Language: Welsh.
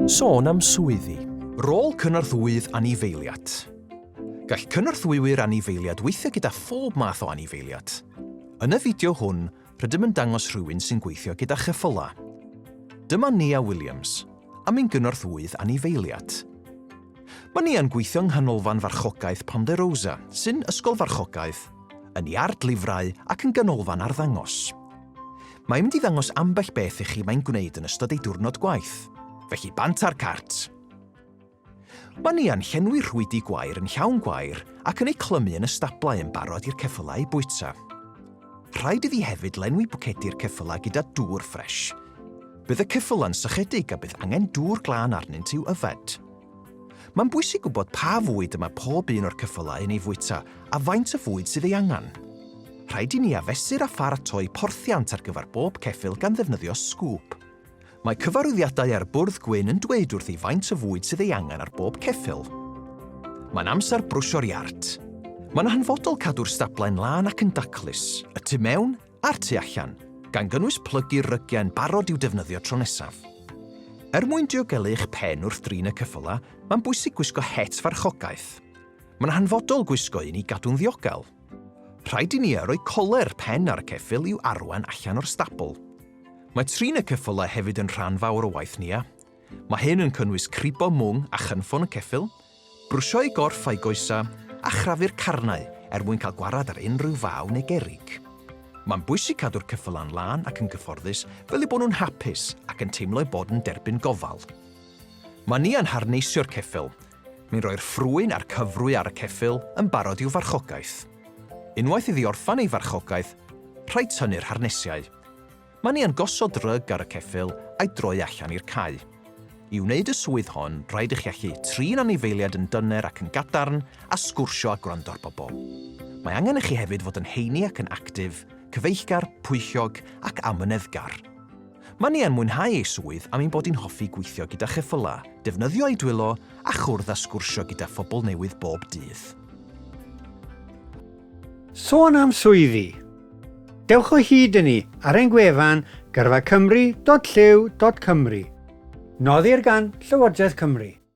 Sôn am swyddi. Rôl cynorthwyydd anifeiliad. Gall cynorthwywyr anifeiliad weithio gyda phob math o anifeiliad. Yn y fideo hwn, rydym yn dangos rhywun sy'n gweithio gyda cheffylau. Dyma Nia Williams, am ein gynorthwyydd anifeiliad. Mae Nia'n gweithio yng Nghanolfan Farchogaeth Ponderosa, sy'n ysgol farchogaeth, yn iard lifrau ac yn ganolfan arddangos. Mae'n mynd i ddangos ambell beth i chi mae'n gwneud yn ystod ei diwrnod gwaith. Felly bant ar cart! Mae Nia'n llenwi rhwydi gwair yn llawn gwair ac yn eu clymu yn y stablau yn barod i'r ceffylau eu bwyta. Rhaid iddi hefyd lenwi bwcedi'r ceffylau gyda dŵr ffres. Bydd y ceffylau'n sychedig a bydd angen dŵr glân arnynt i'w yfed. Mae'n bwysig gwybod pa fwyd y mae pob un o'r cyffylau yn ei fwyta a faint o fwyd sydd ei angen. Rhaid i ni afesur a pharatoi porthiant ar gyfer bob ceffyl gan ddefnyddio sgŵp. Mae cyfarwyddiadau ar bwrdd gwyn yn dweud wrthi faint o fwyd sydd ei angen ar bob ceffyl. Mae'n amser brwsio'r iard. Mae'n hanfodol cadw'r stablau yn lân ac yn daclus, y tu mewn a'r tu allan, gan gynnwys plygu rygiau yn barod i'w defnyddio tro nesaf. Er mwyn diogelu eich pen wrth drin y ceffylau, mae'n bwysig gwisgo het farchogaeth. Mae'n hanfodol gwisgo un i gadw'n ddiogel. Rhaid i ni a roi coler pen ar y ceffyl i'w arwain allan o'r stabl. Mae trin y ceffylau hefyd yn rhan fawr o waith Nia. Mae hyn yn cynnwys cribo mwng a chynffon y ceffyl, Brwsio'u gorff a'u goesau, a chrafu'r carnau er mwyn cael gwarad ar unrhyw faw neu gerrig. Mae'n bwysig cadw'r cyffylan lân ac yn gyfforddus fel eu bod nhw'n hapus ac yn teimlo eu bod yn derbyn gofal. Mae Nia'n harneisio'r ceffyl. Mae'n rhoi'r ffrwyn a'r cyfrwy ar y ceffyl yn barod i'w farchogaeth. Unwaith iddi orffen ei farchogaeth, rhaid tynnu'r harnesiau. Mae ni yn gosod rug ar y ceffyl a'i droi allan i'r cae. I wneud y swydd hon, rhaid i chi allu trin anifeiliaid yn dyner ac yn gadarn a sgwrsio a gwrando ar bobl. Mae angen i chi hefyd fod yn heini ac yn actif, cyfeillgar, pwyllog ac amyneddgar. Mae ni yn mwynhau ei swydd am ein bod hi'n hoffi gweithio gyda cheffylau, defnyddio ei dwylo a chwrdd a sgwrsio gyda phobl newydd bob dydd. Sôn am swyddi, Dewch o hyd i ni ar ein gwefan gyrfacymru.llyw.cymru. Noddir gan Llywodraeth Cymru.